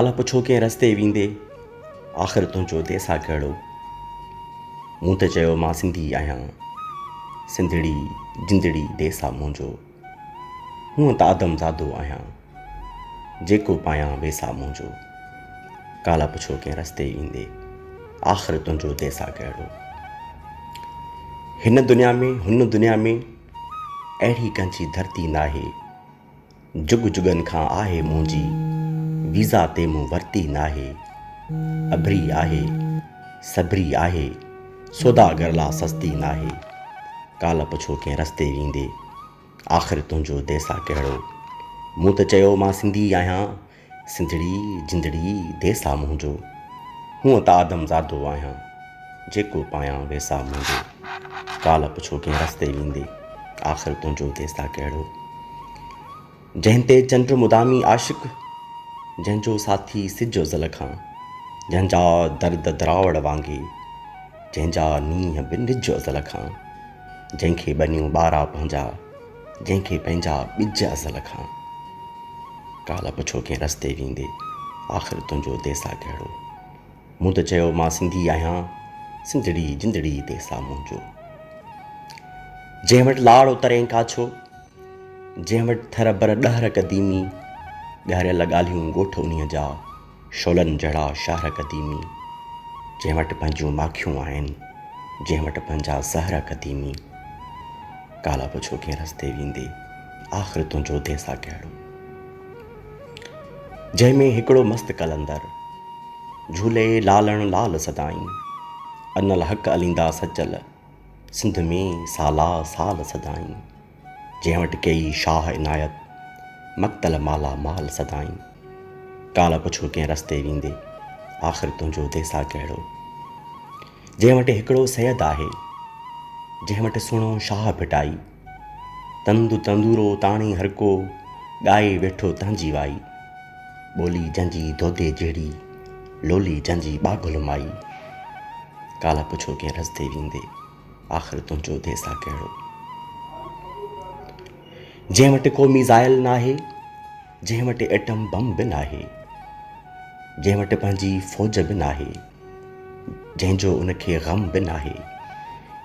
الا پڇو ڪنهن رستي ويندي، آخر تنهنجو ديسا ڪهڙو؟ مون ته چيو مان سنڌي آهيان، سنڌڙي جندڙي ديسا منهنجو. هونء ته آدم زادو آهيان، جيڪو پايان ويسا منهنجو. ڪالا پڇو ڪنهن رستي ويندي، آخر تنهنجو ديسا ڪهڙو؟ هن دنيا ۾ هن دنيا ۾ اهڙي ڪنهن جي ڌرتي ناهي. جڳ جڳن کان آهي منهنجي، ويزا تي مون ورتي ناهي. اڀري آهي، سڀري آهي، سوداگر لا سستي ناهي. ڪالهه پڇو ڪنهن رستي ويندي، آخر تنهنجو ديسا ڪهڙو. مون ته چيو مان سنڌي آهيان. سنڌڙي جندڙي ديس آ منهنجو، هونء ته آدم زادو آهيان، جيڪو پايان ويس آ منهنجو، ڪالهه پڇو ڪنهن رستي ويندي، آخر تنهنجو ديس آ ڪهڙو. جنهن تي چنڊ مدامي عاشق، جنهن جو ساٿي سج ازل کان، جنهن جا درد دراوڙ وانگي، جنهن جا نينهن به نج ازل کان، جنهن کي ٻنيون ٻارا پنهنجا، جنهن کي پنهنجا ٻج ازل کان. ڪالهه پڇو ڪنهن رستي ويندي، آخر تنهنجو ديسا ڪهڙو؟ مون ته چيو مان سنڌي آهيان، سنڌڙي جندڙي ديسا منهنجو. جنهن وٽ لاڙ اترين ڪاڇو، جنهن وٽ ٿر بر ڏهر قديمي، ڳهريل ڳالهيون ڳوٺ انهيء جا. شعلن جهڙا شهر قديمي، جنهن وٽ پنهنجيون ماکيون آهن، جنهن وٽ پنهنجا زهر قديمي. ڪالهه پڇو ڪنهن رستي ويندي، آخر تنهنجو ديسا ڪهڙو. جنهن ۾ هڪڙو مست قلندر، جهولي لالڻ لال سدائين. ان الحق عليندا سچل، سنڌ ۾ سالا سال سدائين. جنهن وٽ ڪيئي شاهه عنايت، مقتل مالا مال سدائين. ڪالهه پڇو ڪنهن رستي ويندي، آخر تنهنجو ديسا ڪهڙو. جنهن وٽ هڪڙو سيد آهي، جنهن وٽ سهڻو شاهه ڀٽائي. تند تندورو تاڻي هرڪو، ڳائي ويٺو تنهنجي وائي. ٻولي جنهن جي دودي جهڙي، لولي جنهن جي ٻاگهل مائي. ڪالهه پڇو ڪنهن رستي ويندي. آخر تنهنجو ديس آ ڪهڙو. جنهن وٽ ڪو ميزائل ناهي، جنهن وٽ ايٽم بم به ناهي، جنهن وٽ پنهنجي فوج به ناهي، جنهن جو ان کي غم به ناهي،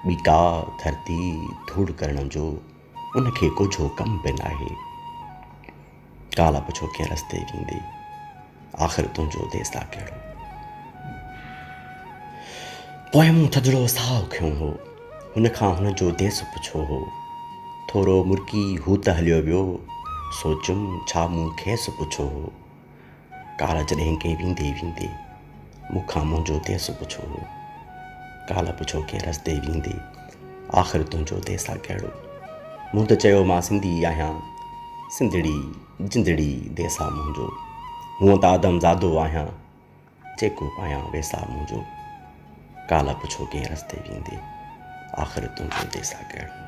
ٻي ڪا ڌرتي ڌوڙ ڪرڻ جو. ان کي ڪجهو ڪم به ناهي. ڪالهه به ڇو ڪنهن رستي ويندي. آخر تنهنجو ديسا ڪهڙو. پوء مون ٿڌڙو ساهه کنيو هو. هن کان هن جو ديس پڇيو هو. ٿورو مرڪي هو ته هليو ويو. سوچيم ڇا مون کيس پڇيو هو. ڪالهه جڏهن ڪي ويندي ويندي مون کان منهنجو ديس پڇو هو ڪالهه پڇو ڪي رستي ويندي آخر تنهنجو ديس آ ڪهڙو مون ته چيو مان سنڌي آهيان سنڌڙي جندڙي ديس آ منهنجو هونء ته آدم زادو آهيان جيڪو پايان ويس آ منهنجو ڪالهه پڇو ڪي رستي ويندي آخر تنهنجو ديس آ ڪهڙو